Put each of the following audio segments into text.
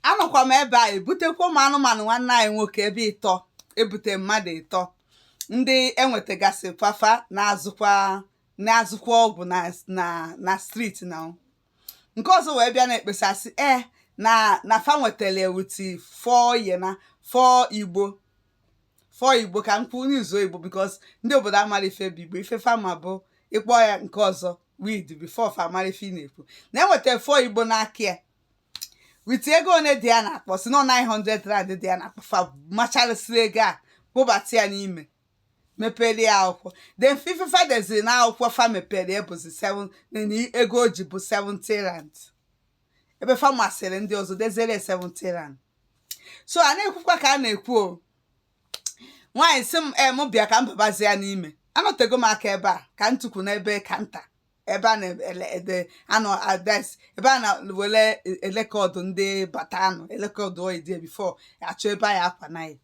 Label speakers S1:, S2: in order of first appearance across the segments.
S1: anọkwa m ebe a ebutekwa ụmụ anụmanụ nwanne anyị nwoke ebe ịtọ ebute mmadụ ịtọ ndị enwetagasị fa fa na-azụkwa na-azụkwa ọgwụ na na na street na nke ọzọ wee bịa na-ekpesasị e na na fa nwetara ewuti four yena four igbo four igbo ka m kwuo m use igbo because ndị obodo amarọ ife bụ igbo ife fa ma bụ ịkpọ ya nke ọzọ weed before fa amara ife ị na-ekwu na enweta four igbo n'aka ya with ego one dị ya n'akpa sị na 900 rand dị ya n'akpa fa macharịsịrị ego a kpụbata ya n'ime mepere ya akwụkwọ then ife fa deziri na akwụkwọ fa mepere ya bụzi 7 na ego o ji bụ 70 rand ebe fa masịrị ndị ọzọ deziere ya 70 rand so a na-ekwukwa ka a na-ekwu o nwaanyị sị m em bịa ka m babazia n'ime anọtego m aka ebe a ka m tukwu n'ebe counter ebe a na-ede anọ advice ebe a na-ewere record ndị batanụ record ID before achọ ebe a ya-akwana ya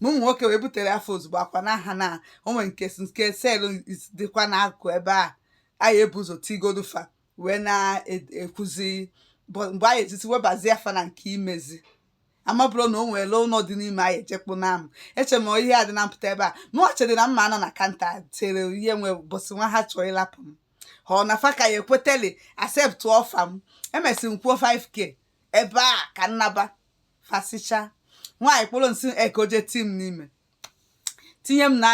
S1: ma ụmụ nwoke wee butere fa ozugbo akwana ha na o nwe nke si nke cell is- dịkwa n'akụ ebe a ya-ebu ụzọ tigodu fa wee na-ekwuzi bụ- mgbe anyị etiti webazia fa na nke imezi amaburọ na o nwere ụlọ dị n'ime anyị echekpụ na m eche m ihe a dị na mpụta ebe a mụọ chere na m ma-anọ na counter chere ihe nwe bụsị nwa ha chọọ ịlapụ m ha ọ na fa ka ya ekweteli accept offer m emesi m kwuo 5k ebe a ka nnaba fasicha nwaanyị kpụrụ m sị ka o je ti m n'ime tinye m na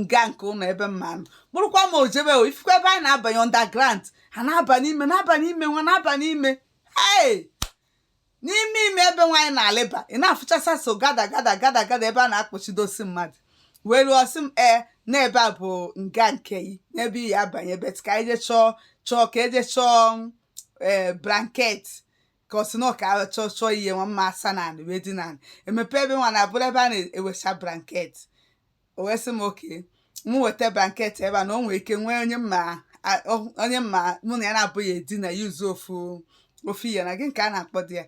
S1: nga nke ụlọ ebe m ma-anọ kpụrụkwa m o jebe o ịfụkwa ebe anyị na-abanye underground ha na-aba n'ime na-aba n'ime nwa na-aba n'ime hey! n'ime ime ebe nwa anyị na-alịba ị na-afụchasa so gada gada gada gada ebe a na-akpọchidosi mmadụ wee ruo sị m ee n'ebe a bụ nga nke yị n'ebe ị ya-abanye but ka anyị jee chọọ chọọ ka eje chọọ ee blanket ka ọ sị na ọ ka a chọọ chọọ ihe nwa m ma-asa na anị wee dina anị emepe ebe nwa na-abụrụ ebe a na-ewecha blanket o wee sị m okay m weta blanket ebe a na o nwere ike nwee onye mma a- ọ- onye mma mụ na ya naabọ ya-edina use ofu ofu ihe na gịnị ka a na-akpọdị ya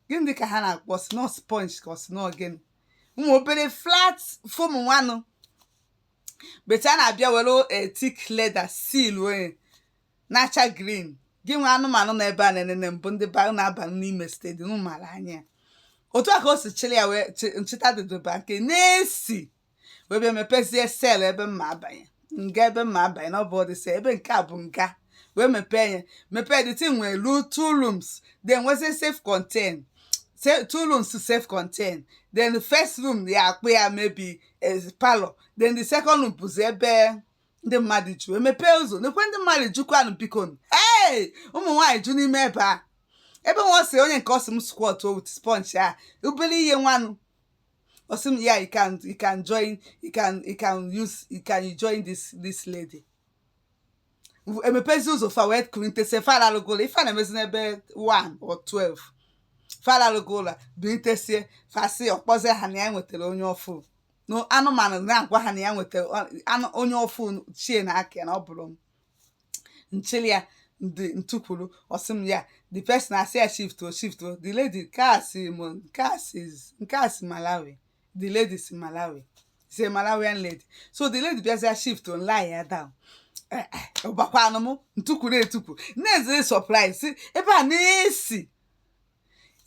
S1: gịnị dị ka ha na-akpọ sị na ọ sponge ka ọ sị na ọ gịnị ụmụ obere flat foam nwanụ but a na-abịa were thick leather seal ya na-acha green gị nwe anụmanụ na ebe a na-enene mbụ ndị ba na-aba n'ime steeti unu maara anyị ya otu a ka o si chịrị ya wee chị- nchịta dịdụba nke na-esi wee bịa mepezie cell ebe m ma-abanye nga ebe m ma-abanye na ọ bụ ọdị cell ebe nke a bụ nga wee mepee ya mepee the thing nwere two rooms then nwezie self contain Se- two rooms to self contain then the first room ị ya-akpọ ya maybe is parlour then the second room bụzi ebe ndị mmadụ ju emepee ụzọ nekwe ndị mmadụ jukwanụ biko ee ụmụ nwaanyị ju n'ime ebe a ebe nwa si onye nke ọ sị m squat o with sponge a obere ihe nwanụ ọ sị m ya you can you can join you can you can use you can join this this lady emepezi ụzọ fa wee kulitesie fa lalụgolo ife a na-emezi n'ebe 1 or 12 fa lalụgolo bilitesie fa si ọ kpọzie ha na ya nwetara onye ọfụụ na anụmanụ na-agwa ha na ya nwetara onye ọfụụ chie na aka na ọ bụrụ m nchili ya ndị ntukwuru ọ sị m ya the person asị ya shift o shift o the lady nke a si m nke a si nke a si Malawi the lady si Malawi is a Malawian lady so the lady bịazịa shift o lie ya down ọgbakwanụ m ntukwuru etukwu na-ezere surprise isi ebe a na-esi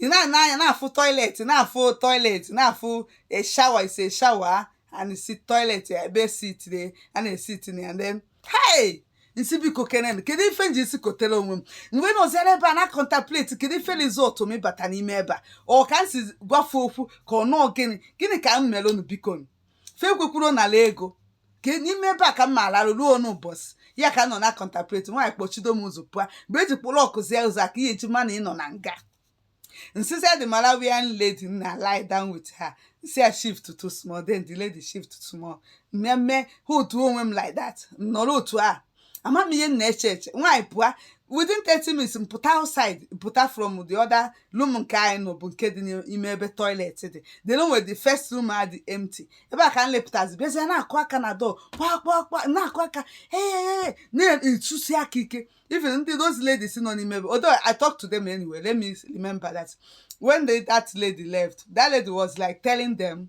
S1: ị na-ene anya na-afụ toilet na-afụ toilet na-afụ a shower isi shower and isi toilet ebe esitire a na-esiti na ya then hey nsi biko kene kedu ife nji isi kotere onwe m m wee nọzịrị ebe a na contemplate kedu ife result m ịbata n'ime ebe a ọ ka m si gwa fa okwu ka ọ nọọ gịnị gịnị ka m mere unu biko fe kwekwuru nala ego ka n'ime ebe a ka m ga-alarụ ruo n'ụbọchị ya ka m nọ na contemplate nwaanyị kpọchido m ụzọ pụa mgbe eji kpụrụ ọkụzie ụzọ a ka ihe eji ma na ị nọ na nga nsịzị the Malawian lady na lie down with her nsị ya shift to small then the lady shift to small mmemme ha otu onwe m like that nọrọ otu a ama m ihe m na-eche eche nwaanyị pụa within 30 minutes m pụta outside pụta from the other room nke anyị nọ bụ nke dị n'ime ebe toilet dị then o nwere the first room a dị empty ebe a ka m lepụtazi bịazie na-akụ aka na door kpaa kpaa kpaa na-akụ aka ee na-etusi aka ike even ndị those ladies nọ n'ime ebe although I talk to them anyway let me remember that when they, that lady left that lady was like telling them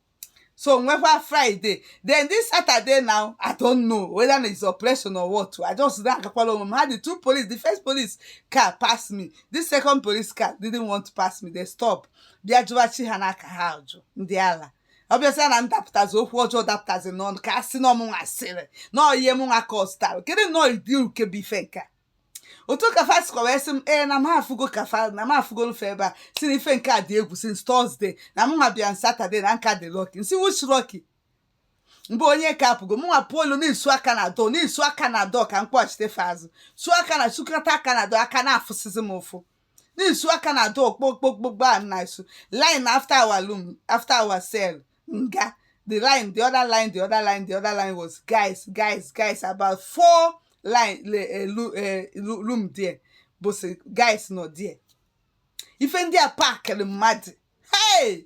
S1: so nwekwa friday then this saturday now i don't know whether na is operation or what i just na-agakwala onwe m ha the two police the first police car pass me the second police car didn't want to pass me they stop bịa jụwa chi ha na aka ha ọjọọ ndị ala obviously ana ndapụtazi okwu ọjọọ dapụtazi n'ọnụ ka a sị na ọ mụnwa asịrị na ọyie mụnwa ka ọ zụtara kedu nnọọ ụdị uke bụ ife nke a otu ka fa sikwa wee sị m ee na m afụgo ka fa na m afụgo fa ebe a sị na ife nke a dị egwu since Thursday na mụnwa bịa on Saturday na m ka dị lucky nsị which lucky mgbe onye nke a pụgo mụnwa pụolu na-esu aka na door na-esu aka na door ka m kpọghachite fa azụ su aka na sukata aka na door aka na-afụsịzi m ụfụ na-esu aka na door kpo kpo kpo kpo a na-esu line after our room after our cell nga the line the other line the other line the other line was guys guys guys about four line le elu eh, lu- room there bụ sọ guys nọ there ife ndị a packịrị mmadụ hey